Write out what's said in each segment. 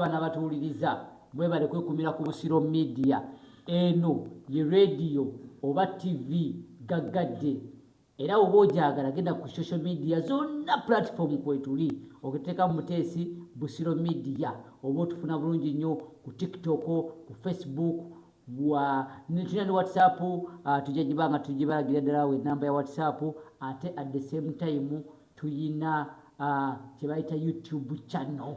okulaba nabatuwuliriza mwebale kwekumira ku busiro media eno ye radio oba tv gaggadde era oba ojagala genda ku social media zonna platform kwetuli okiteeka mu muteesi busiro media oba otufuna bulungi nnyo ku tiktok ku facebook tulina ne whatsapp ah, tujja giba nga tugibalagira ddala we namba ya whatsapp ate at the same time tuyina ah, kyebayita youtube channel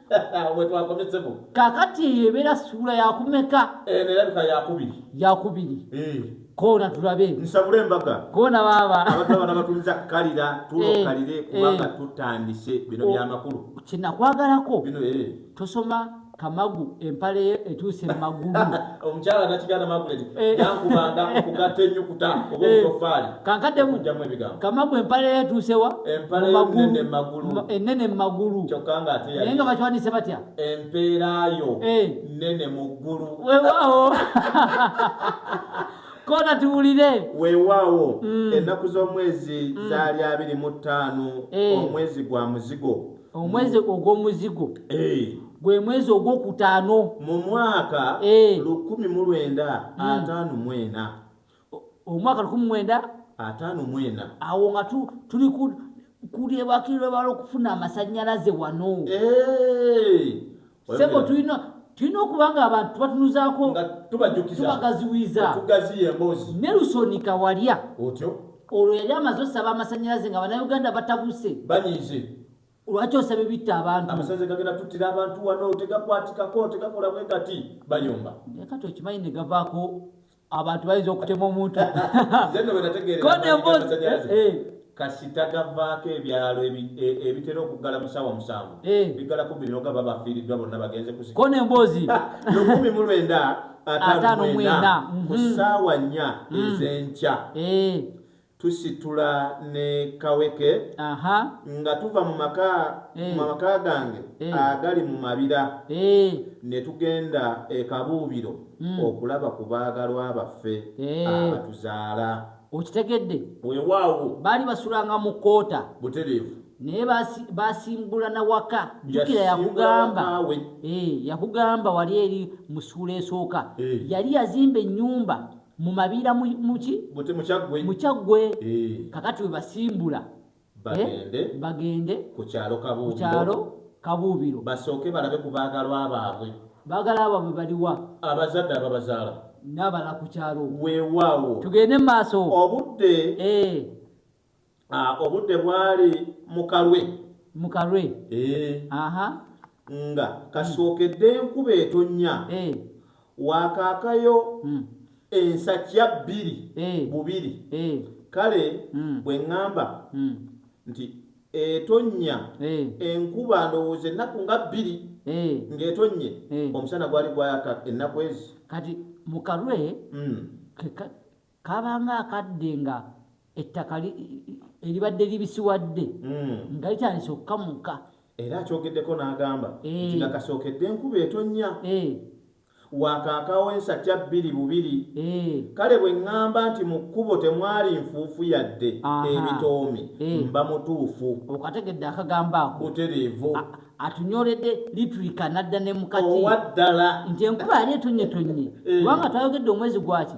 wetwakomezemu kakati eyo ebeera suula yakumeka eh, nerabika yakubiri yakubiri eh. koona tulabe nsabula embaga koona baaba abantu abana batuliza kukalira tulokalire eh, kubanga tutandise bino oh, byamakulu kinakwagalako bino tosoma kamagu empale etuuse mumagulu omukyala nakiganda magulet eh. yankubanga okugatta enyukuta oba eh. obutofaali kankaddemujjamu ebigambo kamagu empale yatuusewa enene mumagulu eh, kyokka nga ate naye nga bakiwanise batya empeerayo nene mu ggulu wewaawo kona tuwulire wewaawo mm. ennaku z'omwezi mm. zaali abiri mu ttaano omwezi gwa muzigo omwezi ogw'omuzigo eh. gwe mwezi ogwokutaano mu mwaka eh. lukumi mu lwenda hmm. ataano mwena omwaka lukumi mwenda ataano mwena awo nga tuli kulyebakirwebala okufuna amasanyalaze wano eh. sebo tulina tulina okuba nga abantu tubatunuzaako tubagaziwiza ne lusoni kawalya olwo yali amaze osaba amasanyalaze nga banauganda batabuse lwaki osaba ebitta abantuabantu wano tegakwatikako tegakola bwegati bayomba kati okimanyi negavaako abantu bayinza okutema omuntu kasita gavaako ebyalo ebitera okuggala musawa musanvu bigalako bino nga babafiiriddwa bonna bagenze kusikona emboozi lukumi mu lwenda ataano mwena ku saawa nnya ezenkya tusitula ne kaweke Aha. nga tuva mu maka Eh. mu maka gange Eh. agali mu mabira Eh, ne tugenda e kabuubiro Mm. okulaba ku baagalwa baffe Eh. abatuzaala okitegedde weewaawo baali basulanga mu koota butereevu naye basi- basimbulana waka jukira yakugamba Yasimbulawakawe. Eh, yakugamba wali eri mu ssuula esooka Eh. yali yazimba ennyumba mu mabiira muki mukyaggwe eh. kakati we basimbula eh, bagende ku kyalo kabuubiro basooke balabe ku baagalwa baabwe baagala baabwe baliwa abazadde ababazaala n'abala ku kyalo weewaawo tugende mu maaso obudde eh. Ah, obudde bwali mukalwe mukalwe eh. aha nga kasookedde enkuba etonya eh. wakaakayo hmm. ensakya bbiri eh. bubiri kale hmm. bwe ŋŋamba hmm. nti etonnya enkuba ndowooza ennaku nga bbiri ng'etonnye omusana gwali gwayaka ennaku ezi kati mukalwe kabanga akadde nga ettaka eribadde libisiwadde hmm. nga litandise okukamuka era akyogeddeko n'agamba eh. nti nga kasookedde enkuba etonnya eh. wakaakawo ensakya bbiri bubiri eh. kale bwe ŋŋamba nti mu kkubo temwali nfuufu yadde ebitoomi mba mutuufu okategedde akagambo ako butereevu atunyoledde litulika nadda ne mukati owaddala nti enkuba yali etonyetonye kubanga twayogedde omwezi gwaki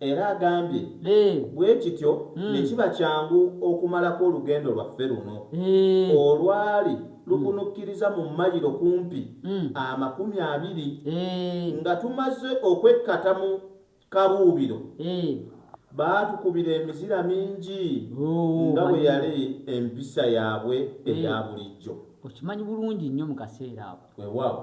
Era agambye bwekityo hmm. nekiba kyangu okumalako olugendo lwaffe luno olwali lukunukkiriza mu mayiro kumpi hmm. amakumi abiri nga tumaze okwekkata mu kabuubiro baatukubira emizira mingi oh, nga bwe yali empisa yaabwe eya bulijjo okimanyi bulungi nnyo mu kaseera ako wewaawo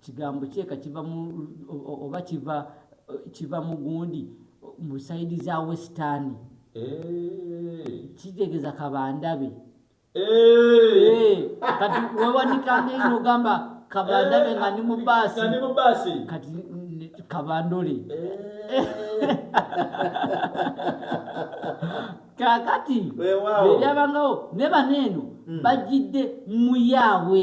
kigambo kyeka kiva mu oba kiva kiva mu gundi mu saidi za western eh. kitegeza kabandabe eh. kati wewanikanga ino ogamba kabandabe nga ni mu baasi kati kabandole eh. kakati ebyabangawo ne baneeno hmm. bajjidde muyaabwe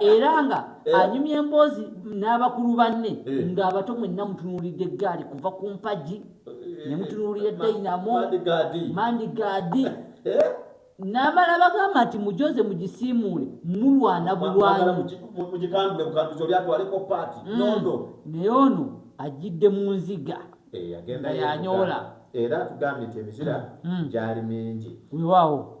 era nga eh. anyumya emboozi n'abakulu banne eh. ng'abato mwenna mutunuulidde eggaali kuva ku mpagi eh, ne mutunuulira dayinamo mandi gaadi n'amala bagamba nti mujoze mugisiimuule mulwana bulwanyi mm. naye ono ajjidde mu nziga nga yanyoola era tugambye nti emizira mm. gyali mingi wewaawo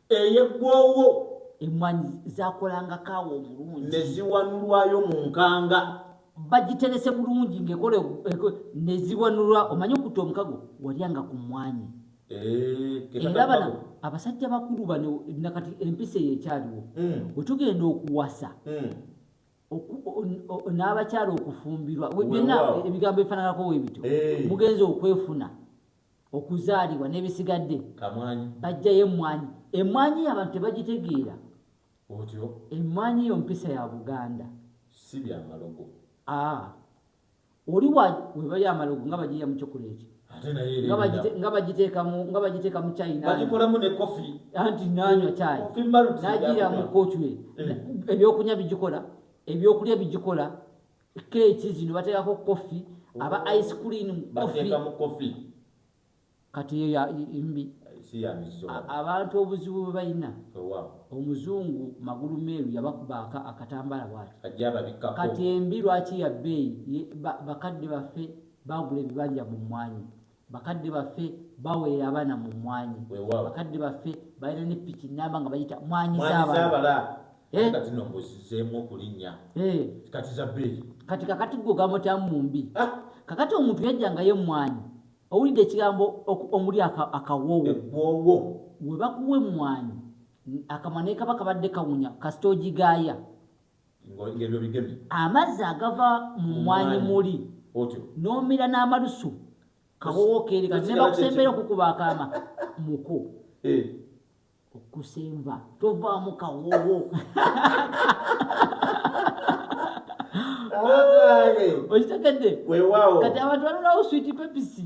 eyeggwawo emmwanyi zakolanga kaawa omulungi ne ziwanulwayo mu nkanga bagiterese bulungi ngaekola ne ziwanulwa omanye okutta omukago walyanga ku mmwanyi eh, era bana abasajja bakulu bano nakati empisa eyo ekyaliwo hmm. bwe tugenda okuwasa hmm. n'abakyala okufumbirwa byonna ebigambo ebifananako webityo eh. mugenzi okwefuna okuzaalibwa n'ebisigadde bajjayo emmwanyi emmwanyi abantu tebagitegeera otyo emmwanyi yo mpisa ya buganda si byamalogo oli webayo amalogo nga bajiya mu kyokola ekyo nga bagiteeka mu chinagikolamu ne kofi anti nanywa chai najiira mu kochwe eh. ebyokunya bigikola ebyokulya bigikola keeki zino bateekako koffi aba oh, ice cream koffi kati eyo ya mbi abantu obuzibu bwe balina omuzungu magulu meeru yabakubaaka akatambala bwati kati embi lwaki ya bbeeyi bakadde baffe bagula ebibanja mu mmwanyi Bakadde baffe baweera abaana mu mmwanyi. Weewaawo. Bakadde baffe balina ne piki nnamba nga bayita mmwanyi Mwanyi z'abala. z'abala. Eh. Nga zino mbuzizeemu okulinnya. Eh, Kati za bbeeyi. kati kakati gwe ogamutamu mu mbi Ah, kakati omuntu yajjangayo emmwanyi owulidde ekigambo oku- omuli aka- akawoowo eggwoowo. we bakuwa emmwanyi n- akamwa naye kaba kabadde kawunya kasita ogigaaya amazzi agava mu mwanyi muli n'omira n'amalusu kawowo keereka nebakusembeera okukuba akaama muko eh. okusemba tovaamu kawowo okitegedde kati abantu balinawo switi pepisi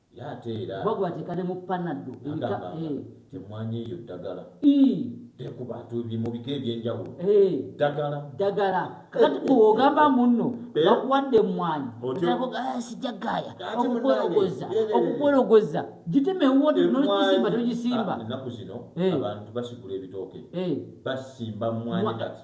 Ye ate era. Kuba gwateeka ne mu panado. Agamba nga emmwanyi eyo ddagala. Ii. Te ku bantu bi mu bika eby'enjawulo. Ee. Ddagala. Ddagala. Kati gwe ogamba munno bakuwadde emmwanyi. Otyo. Aa sijja gaaya. Okukwerogoza. Okukwerogoza. Gitema ewuwo te n'ogisimba togisimba. Ennaku zino abantu basigula ebitooke. Ee. Basimba mmwanyi kati.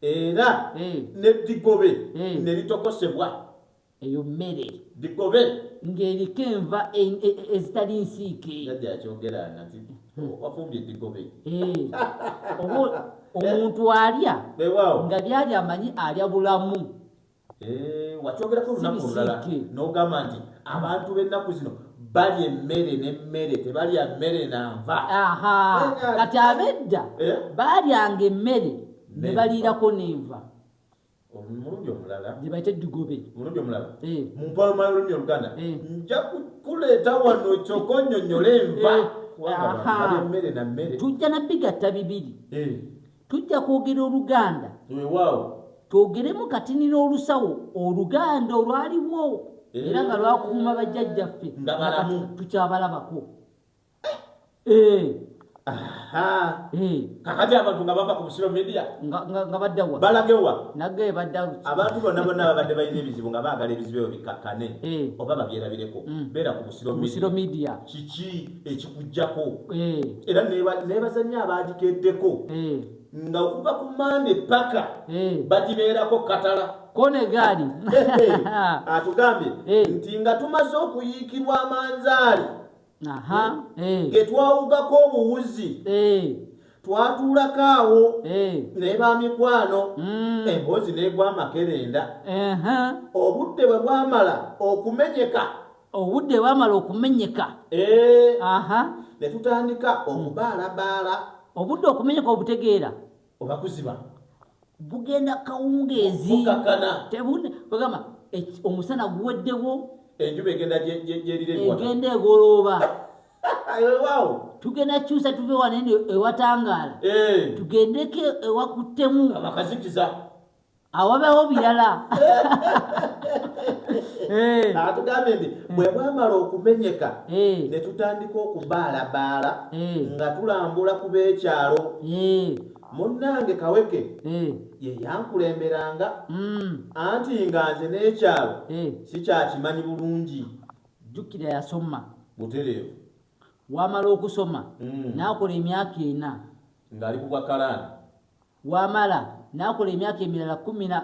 era n'eddigobe ne litokosebwa. Eyo mmere. Ddigobe. Ng'eriko enva ezitali nsiike. Jajja yakyogera nati wafumbye eddigobe. Oba omuntu alya nga byali amanyi alya bulamu. Eh, wakyogerako olunaku olulala nogamba nti abantu bennaku zino balya emmere nemmere tebalya mmere nanva kati abedda eh? balyanga emmere nebaliirako nenva omulundi omulala gyebayita eddugobe omulundi omulala eh. mu mpaloma y'olulimi oluganda nja kukuleeta wano kyoka onyonyola enva kubanga emmere na mmere tujja nabigatta bibiri Tujja kwogera Oluganda. Weewaawo. Twogeremu kati nina olusawo Oluganda olwaliwo eh. era nga lwakuuma bajjajjaffe nga balamu tukyabalabako. Eh. Eh. kakati abantu nga bava ku busiro media nga baddawa balagewa nage badda abantu bonna bonna babadde balina ebizibu nga baagala ebizibu ebyo bikkakkane oba babyerabireko mm. beera ku busiro media kiki ekikujjako eh. era nebazanya abagikeddeko eh. nga okuva ku mande paka eh. bagibeerako katala kone gaali atugambye nti nga tumaze okuyiikirwa amanzaali getwawugako obuwuzi twatuulako awo naye bamikwano mm. emboozi negwa amakerenda obudde bwe bwamala okumenyeka obudde bwamala okumenyeka eh. aha ne tutandika omubaalabaala obudde okumenyeka obutegeera oba kuziba bugenda kawungeezi tebugamba omusana guweddewo enjuba egenda gyeriregenda egolooba waawo tugenda kyusa tuve wanene ewatangaala eh. tugendeko ewakuttemu abakazikiza awabewo birala eh. atugambye nti bwe bwamala okumenyeka eh. ne tutandika okubaalabaala eh. nga tulambula ku b'ekyalo munnange kaweke ye yankulemberanga mm. anti nga nze n'ekyalo sikyakimanyi bulungi jjukira yasoma butereevu wamala okusoma mm. n'akola emyaka ena ng'ali ku bwakalaani wamala nakola emyaka emirala kumina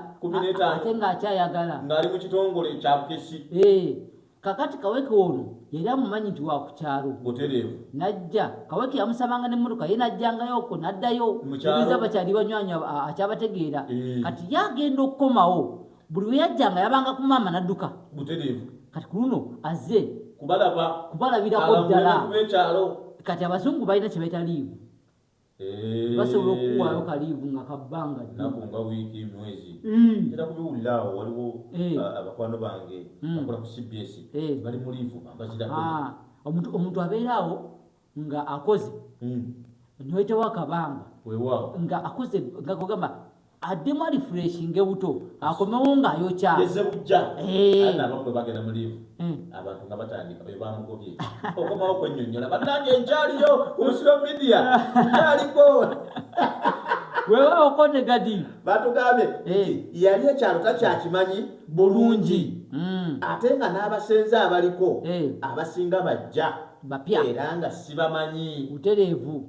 ate nga akyayagala ngaali mu kitongole ekyabukesi eh, kakati kaweke ono yali amumanyi nti wakukyalo butereevu najja kaweke yamusabanga nemmotoka ye najjangayo oko naddayo ebiza bakyali banywanya akyabategeera eh. kati yagenda okukomawo buli weyajja nga yabanga ku maama nadduka butereevu kati ku luno azze kubalaba kubalabirako ddala kati abazungu balina kyebaita liivu Eh. basobola okukuwaayo kaliivu nga kabbanga naku nga wiiki mwezi mm. era kubiwulira awo waliwo eh. abakwano bange mm. bakola ku cbs eh. bali mu liivu ambazirako ah, omuntu abeera awo nga akoze mm. noyitawo akabanga nga akoze nga kugamba addemu alifreshinge buto akomewo ng'ayokya eze bujja eh. ana abakulu bagenda mu liivu hmm. abantu nga batandika oyo bamugobye okomawo kwennyonnyola bannange nkyaliyo ku musiro midiya kyaliko wewa okonde gadi batugambye eh. yali ekyalo takyakimanyi bulungi hmm. ate nga n'abasenze abaliko eh. abasinga bajja bapya era nga sibamanyi butereevu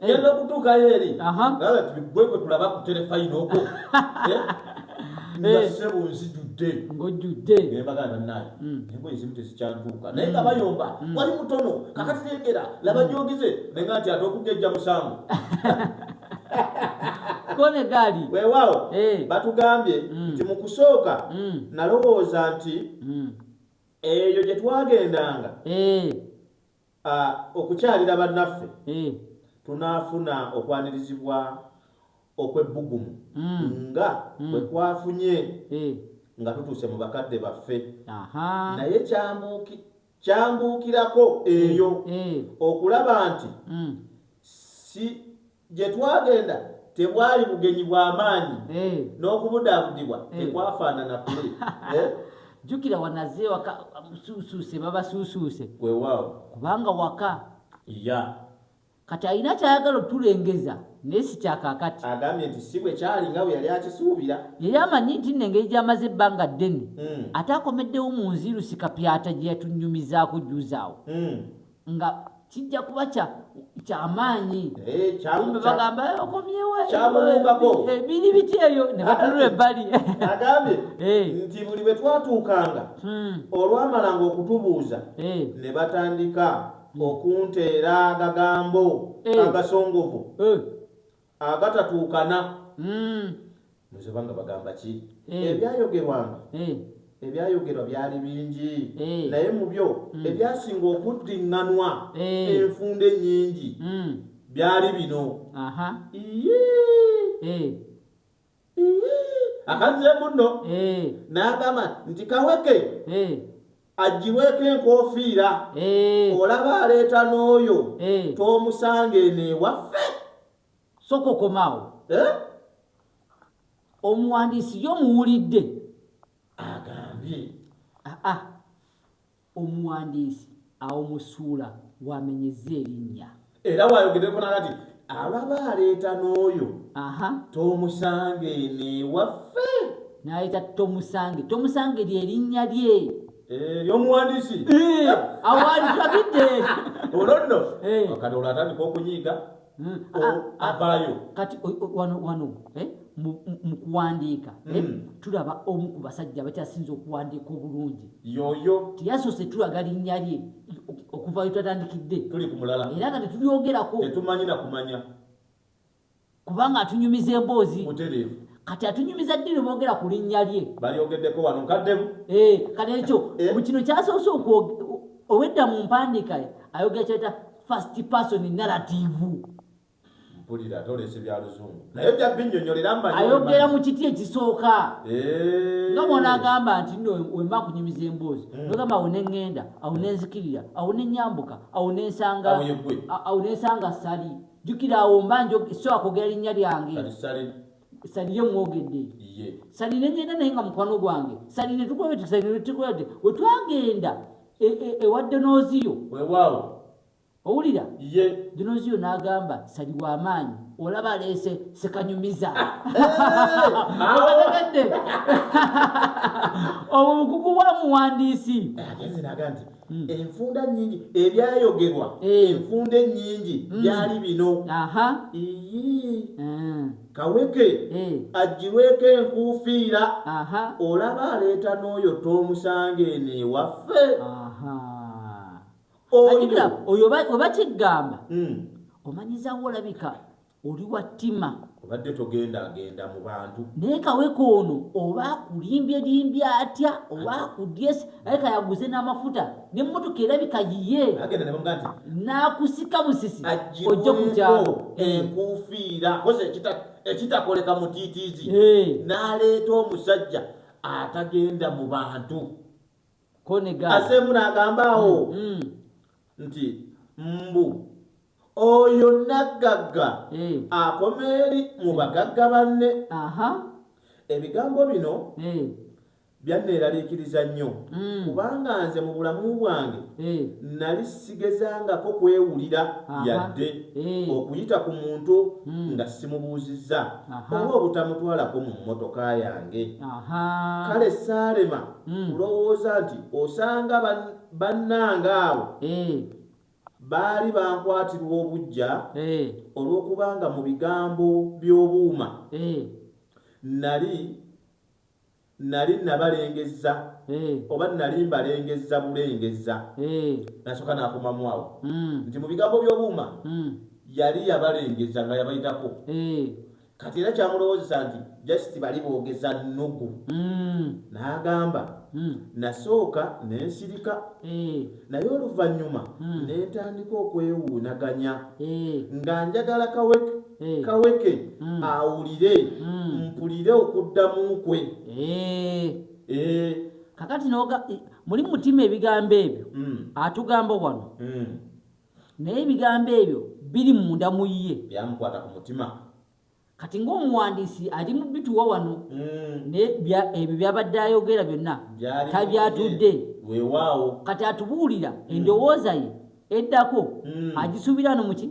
yenda okutuukayo eri nawe tubigwe gwe tulaba ku terefayina okwo eh? nga eh. sebo nzijudde ngojudde nembaga banaye hmm. nembo ezimu tezikyantuuka naye nga hmm. bayomba hmm. wali mutono kakati tegera laba gyogize naye nga nti ate okugejja musango kone gaali weewaawo eh. batugambye nti mu kusooka nalowooza nti eyo gye twagendanga Ah, okukyalira bannaffe eh. tunaafuna okwanirizibwa okw'ebbugumu mm. nga mm. bwe twafunye eh. nga tutuuse mu bakadde baffe naye kyambuki kyambuukirako eyo eh. okulaba nti mm. si Gye twagenda tebwali bugenyi bwa maanyi eh. n'okubudaabudibwa eh. tekwafaanana kuli. Eh? Jjukira wanaze waka suusuuse babasuusuuse. Weewaawo. Kubanga waka. Iya. Kati alina ky'ayagala otulengeza. naye sikyakakati agambye nti si bwe kyali nga bwe yali akisuubira yali amanyi nti nno engeri gy'amaze ebbanga ddene hmm. ate akomeddewo mu nzirusi kapyata gye yatunyumizaako juzaawo hmm. nga kijja kuba kyamaanyi kumbe bagamba eh, okomyewokyabulungako ebiri eh, biti ebyo ne batunula ebbali agambye eh. nti buli bwe twatuukanga hmm. olwamalanga okutubuuza ne batandika hmm. okunteera agagambo agasongovu agatatuukana nze banga bagamba ki ebyayogerwanga ebyayogerwa byali bingi naye mu byo ebyasinga okuddiŋŋanwa enfunda ennyingi byali bino iye akazze munno eh. n'agamba nti kaweke eh. aggyibweko enkofiira eh. olaba aleeta n'oyo tomusanga eno ewaffe soka okomaawo omuwandiisi yo muwulidde agambye aa ah, ah. Omuwandiisi awo mu ssuula w'amenyezza erinnya. Era w'ayogeddeko n'alga nti, Alaba aleeta n'oyo Aha, tomusange eno ewaffe. n'aleeta Tomusange. Tomusange lye linnya lye. Eh, Y'omuwandiisi. Eh, Awo w'ali tulabidde. Olwo nno Eh. Kadoolo atandika okunyiiga. mm. ah, ah, ah, avaayo kati wano wano eh, mu kuwandiika eh, mm. tulaba omu ku basajja bakyasinza okuwandiika obulungi yoyo teyasoose tulaga linnya lye okuvayo twatandikidde tuli ku mulala era nga tetulyogerako tetumanyi na kumanya kubanga atunyumiza emboozi mutereevu kati atunyumiza ddini boogera ku linnya lye balyogeddeko wano nkaddemu eh, kati ekyo eh. kino kyasoose owedda mu mpandiika ayogera kyeta first person narrative mpulira ate oleese bya luzungu naye bya binnyonnyolera mmanyi ayogera mu kiti ekisooka eh. nga mwona agamba nti no wemba kunyumiza emboozi hmm. nogamba awo ne ŋŋenda awo ne nzikirira awo ne nyambuka awo ne nsanga awo ne nsanga sali jjukira awo mba njo so akwogera linnya lyange salire mwogedde salire nyenda naye nga mukwano gwange salire tukwete salire tukwete wetwagenda e, e, ewa donoziyo wewaawo owulira ye donoziyo n'agamba sali w'amaanyi olaba aleese sekanyumiza abategedde obwo bukugu bwa muwandiisi agenze naga nti hmm. enfunda nyingi ebyayogerwa eh. enfunda ennyingi hmm. byali bino aha ii hmm. kaweke eh. ajjirweko enkuufiira olaba aleeta n'oyo tomusanga eno ewaffe oyo oba kiggamba hmm. omanyizawo olabika oli wa ttima obadde togenda agenda mu bantu naye kaweka ono oba akulimbye limbye atya oba akudyesi aye kayaguze n'amafuta n'emmotoka erabika yiye agenda nebamuga nti nakusika busisi ojja kukyalo enkuufiira koze ekitakoleka mutiitiizi n'aleeta omusajja atagenda mu bantu aseemu n'agamba awo mm, mm. nti mbu oyo naggagga eh. akomeeri mu bagagga banne ebigambo bino eh. Byanneeraliikiriza nnyo mm. kubanga nze mu bulamu bwange eh. nali sigezangako kwewulira yadde eh. okuyita ku muntu mm. nga simubuuzizza oba obutamutwalako mu mmotoka yange. Kale saalema mm. kulowooza nti osanga bannanga abo eh. baali bankwatirwa obujja olw'okubanga mu bigambo by'obuuma nali Nnali nnabalengezza, oba nnali mbalengezza bulengezza. N'asooka n'akomamu awo nti mu bigambo by'obuuma yali yabalengezza nga yabayitako. Kati era kyamulowoozesa nti just bali boogeza nnugu. N'agamba, Nnasooka ne nsirika, naye oluvannyuma ne ntandika okwewuunaganya nga njagala kawek. Eh. kaweke mm. awulire mm. mpulire okuddamu kwe eh. Eh. kakati noga muli mutima ebigambo ebyo mm. atugamba wano mm. naye ebigambo ebyo biri munda mu ye byamukwata ku mutima kati ngaomuwandiisi ali mu bituwa wano mm. ebyo byabadde ayogera byonna tabyatudde wewaawo kati atubuulira mm. endowooza ye eddako mm. agisuubira no muki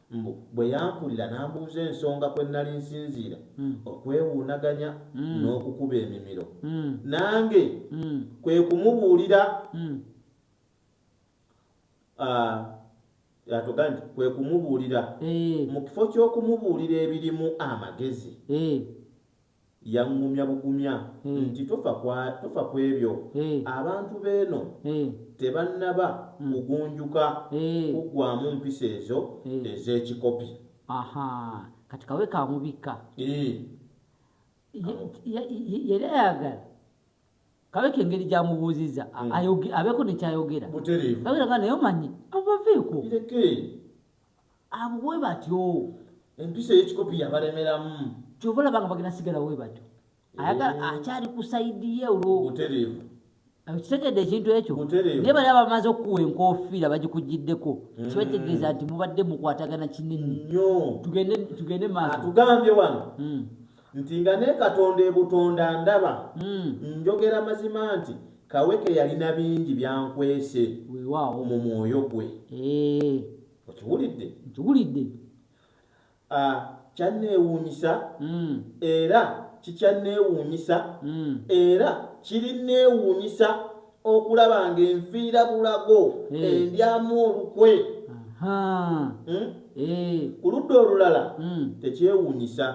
Mbu bwe yampulira n'ambuuza ensonga kwe nnali nsinziira okwewuunaganya n'okukuba emimiro nange kwe kumubuulira yatuga nti kwe kumubuulira mu kifo ky'okumubuulira ebirimu amagezi. Yaŋŋumya bugumya nti, Tofa ku, tofa ku ebyo. Abantu b'eno tebannaba kugunjuka kuggwaamu mpisa ezo ez'ekikopi. Aha, kati kawe ka mubikka. Ii. Ye, ye, ye, yali ayagala kabeko engeri gy'amubuuzizza, a, mm. ayoge, abeeko ne ky'ayogera. Butereevu. Ayogera nga naye omanyi, abo baveeko. Bireke. Abo bwe batyo. Empisa ey'ekikopi yabalemeramu. Kyova olaba nga bagenda sigala we batyo. Ayagala eh. akyali ku sayidi ye olwo. Butereevu. kitegedde ekintu ekyo naye bali abamaze okukuwa enkofiira bagikugiddeko mm. kibategeeza nti mubadde mukwatagana kinene tugende maatugambye wano mm. nti nga ne katonda ebutonda ndaba mm. njogera mazima nti kaweke yalina bingi byankwese mu mwoyo gwe eh. okiwulidde nkiwulidde kyanneewuunyisa mm. era kikyanneewuunyisa mm. era kirinneewuunyisa okulaba ng'enfiira bulago hmm. endyamu olukwe hmm? eh. ku ludda olulala hmm. tekyewuunyisa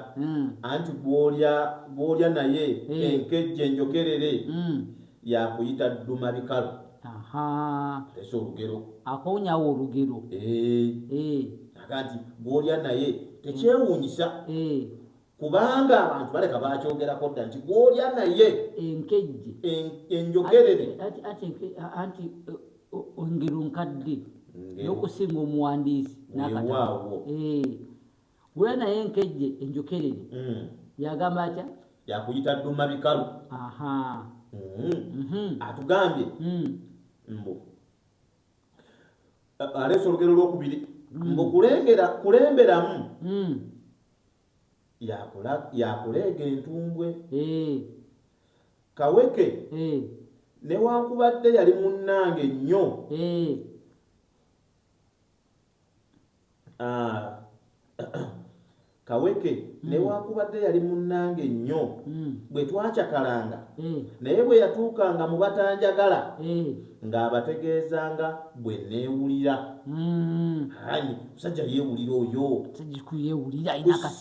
anti gwolya naye enkejje enjokerere yakuyita dduma bikalo ese olugero akowunyawo olugero aga nti gwolya naye tekyewunyisa kubanga abantu baleka bakyogerako dda nti gwolya naye enkejje enjogerere anti ongero nkadde nokusinga omuwandiisi nakataawo Gula naye enkejje enjokerere mm. yagamba atya yakuyita duma bikalu mm-hmm. mm-hmm. atugambye mm. mbu aleesa olugero lwokubiri mm. mbu kulengera kulemberamu mm. yakuleega entumbwe eh. kaweke eh. newankubadde yali munnange nnyo eh. Ah, kaweke mm. newakubadde yali munnange nnyo mm. bwe twacakalanga mm. naye bwe yatuukanga mu batanjagala mm. ng'abategeezanga bwe neewulira mm. ani musajja yeewulira oyo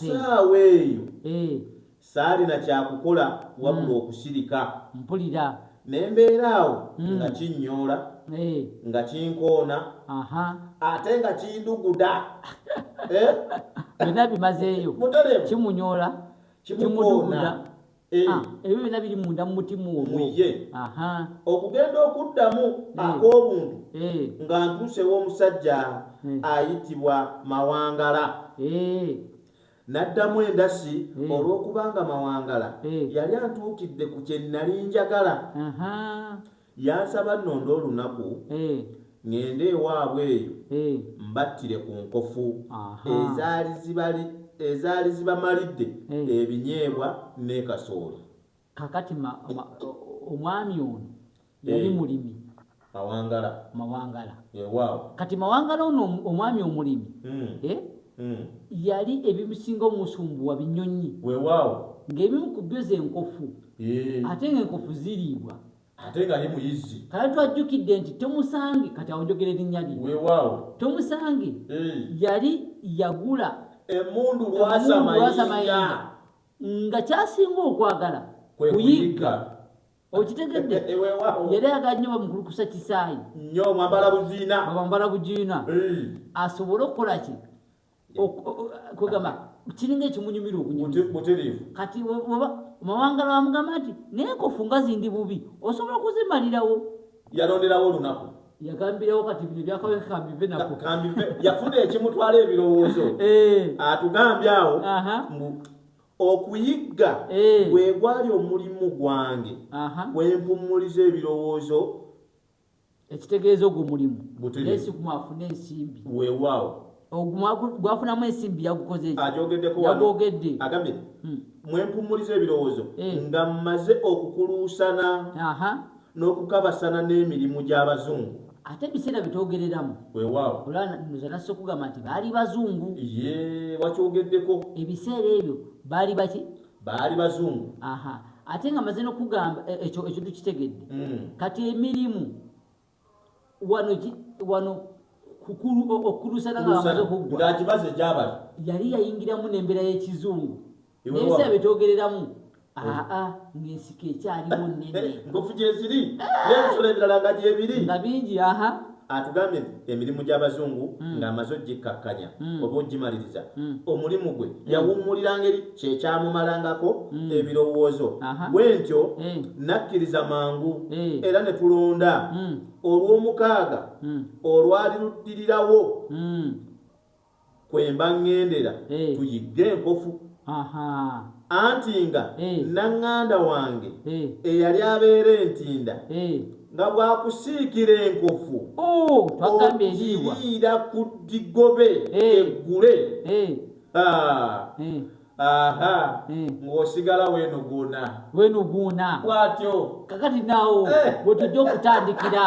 saawa eyo mm. Saalina kya kukola wabula okusirika. Mpulira. Ne mbeera awo nga kinnyoola, nga kinkoona, ate nga kinduguda. Byonna bimazeeyo. Mutereevu. Kimunyoola, kimuduguda. Ebyo byonna biri munda mu mutima ogwo. Ye. Okugenda okuddamu ak'obuntu nga ntuusewo omusajja ayitibwa Mawangala. Naddamu endasi olw'okubanga Mawangala yali antuukidde ku kye nnali njagala. Yansaba nnonde olunaku ŋŋende ewaabwe eyo mbattire ku nkofu ezaali zibamalidde ebinyeebwa ne kasooli. Kaakati omwami ono yali eh, mulimi mawangala mawangala eh, kati mawangala ono omwami omulimi hmm. eh, hmm. yali ebimusinga omusumbuwa binyonyi wewaawo ngaebimu ku byo zenkofu ate nga enkofu ziriibwa ate nga ye muyizzi kale twajjukidde nti tomusange kati awonjogera erinnya lye wewaawo tomusange yali yagula emundu lwasamayinga nga kyasinga okwagala kuyigga okitegedde eh, eh, yali aga nnyo bamukulukusa kisaayi nyo mwambala bujiina mwambala bujiina asobole okukola ki kwegamba kiringa ekimunyumira obunyumira kati oba mawanga lwamugamba nti naye kofunga zindi bubi osobola okuzimalirawo yalonderawo olunaku yagambirawo kati bino byakawekambive nako yafuna ekimutwala ebirowoozo eh. atugambye awo okuyigga gwe gwali omulimu gwange kwempummuliza ebirowoozo ekitegeeza ogwo mulimu nesiguma afune ensimbi wewaawo gwafunamu ensimbi yagukozeyagogeddeyagogedde agambye hmm. mwempummuliza ebirowoozo eh. nga mmaze okukuluusana n'okukabasana n'emirimu gy'abazungu ate ebiseera byetwogereramu wewaawo olwanoza nasse okugamba nti baali bazungu ye wakyogeddeko ebiseera ebyo baali baki baali bazungu aha ate nga maze nokugamba e, ekyo ekyo tukitegedde mm. kati emirimu wano wano kukulu okulusana nga amaze okuggwa ng'agibaze gyabali yali yayingiramu n'embeera y'ekizungu nebisa byetwogereramu aa ngaensiko ekyaliwo nene nkofu gyeziri nebisolo ebirala nga gyebiri nga bingi aha atugambye nti emirimu gy'abazungu hmm. ng'amaze ogikkakkanya hmm. oba ogimaliriza hmm. omulimu gwe yawummulira ngeri kyekyamumalangako ebirowoozo bwentyo eh. nakkiriza mangu eh. era ne tulonda olw'omukaaga olwali luddirirawo kwemba ŋŋendera tuyigge enkofu anti nga naŋŋanda wange eyali abeera entinda nga bwakusiikira enkofu ogiyiira ku ddigobe eggule aha hmm. ng'osigala wenoguuna wenoguuna bwatyo kakati naawo wetujja okutandikira